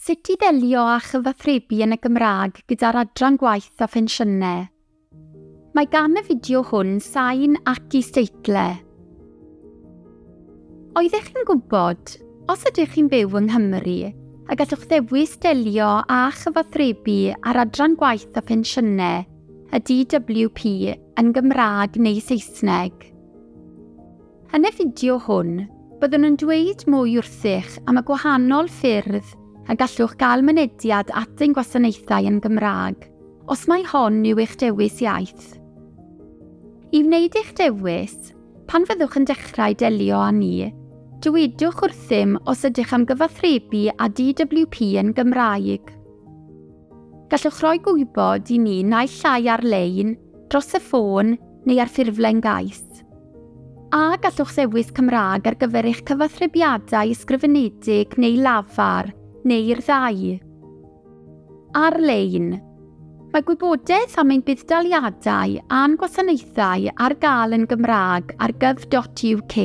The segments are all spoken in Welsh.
Sut i ddelio â chyfathrebu yn y Gymraeg gyda'r Adran Gwaith a Phensiynau. Mae gan y fideo hwn sain ac isdeitle. Oeddech chi'n gwybod, os ydych chi'n byw yng Nghymru, y gallwch ddewis delio â chyfathrebu ar Adran Gwaith a Phensiynau, y DWP, yn Gymraeg neu Saesneg. Yn y fideo hwn, byddwn yn dweud mwy wrthych am y gwahanol ffyrdd y gallwch gael mynediad at ein gwasanaethau yn Gymraeg, os mai hon yw eich dewis iaith. I wneud eich dewis, pan fyddwch yn dechrau delio â ni, dywedwch wrthym os ydych am gyfathrebu â DWP yn Gymraeg. Gallwch roi gwybod i ni naill ai ar-lein, dros y ffôn, neu ar ffurflen gais. A gallwch ddewis Cymraeg ar gyfer eich cyfathrebiadau ysgrifenedig neu lafar, neu'r ddau. Ar-lein. Mae gwybodaeth am ein budd-daliadau a'n gwasanaethau ar gael yn Gymraeg ar gov.uk.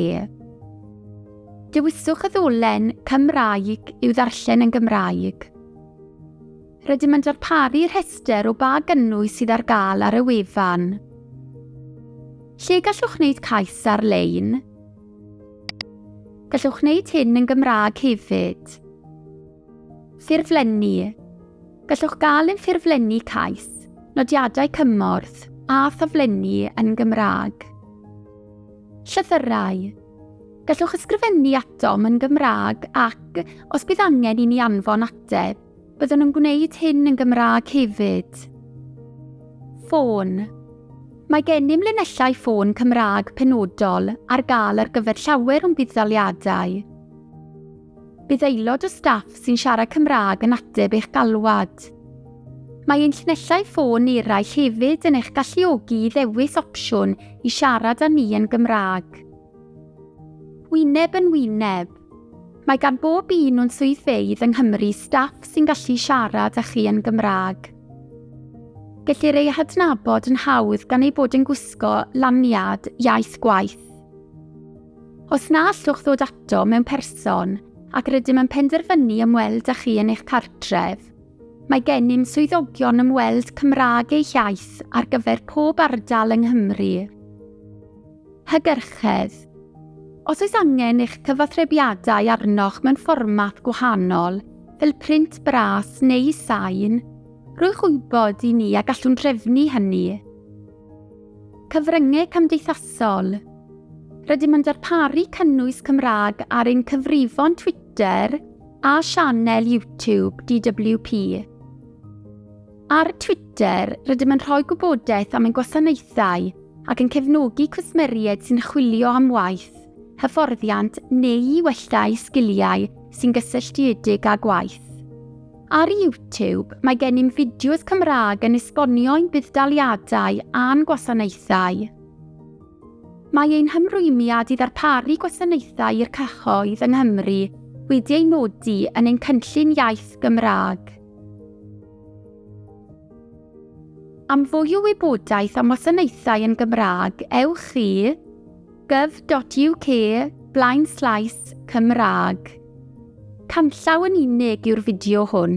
Dewiswch y ddolen Cymraeg i'w ddarllen yn Gymraeg. Rydym yn darparu rhestr o ba gynnwys sydd ar gael ar y wefan. Lle gallwch wneud cais ar-lein? Gallwch wneud hyn yn Gymraeg hefyd. Ffurflenni. Gallwch gael ein ffurflenni cais, nodiadau cymorth a thaflenni yn Gymraeg. Llythyrau. Gallwch ysgrifennu atom yn Gymraeg ac, os bydd angen i ni anfon ateb, Byddwn yn gwneud hyn yn Gymraeg hefyd. Ffôn. Mae gennym linellau ffôn Cymraeg penodol ar gael ar gyfer llawer o'n budd-daliadau. Bydd aelod o staff sy'n siarad Cymraeg yn ateb eich galwad. Mae ein llinellau ffôn eraill hefyd yn eich galluogi i ddewis opsiwn i siarad â ni yn Gymraeg. Wyneb yn wyneb. Mae gan bob un o'n swyddfeydd yng Nghymru staff sy'n gallu siarad â chi yn Gymraeg. Gellir eu hadnabod yn hawdd gan eu bod yn gwisgo laniad iaith gwaith. Os na allwch ddod ato mewn person ac rydym yn penderfynu ymweld â chi yn eich cartref, mae gennym swyddogion ymweld Cymraeg eich iaith ar gyfer pob ardal yng Nghymru. Hygyrchedd. Os oes angen eich cyfathrebiadau arnoch mewn fformat gwahanol, fel print bras neu sain, rhowch wybod i ni a gallwn drefnu hynny. Cyfryngau cymdeithasol. Rydym yn darparu cynnwys Cymraeg ar ein cyfrifon Twitter a sianel YouTube DWP. Ar Twitter, rydym yn rhoi gwybodaeth am ein gwasanaethau ac yn cefnogi cwsmeriaid sy'n chwilio am waith, hyfforddiant neu i wella eu sgiliau sy'n gysylltiedig â gwaith. Ar YouTube, mae gennym fideos Cymraeg yn esbonio ein budd-daliadau a'n gwasanaethau. Mae ein hymrwymiad i ddarparu gwasanaethau i'r cyhoedd yng Nghymru wedi ei nodi yn ein cynllun iaith Gymraeg. Am fwy o wybodaeth am wasanaethau yn Gymraeg, ewch i gov.uk blaenslaes Cymraeg. Canllaw yn unig yw'r fideo hwn.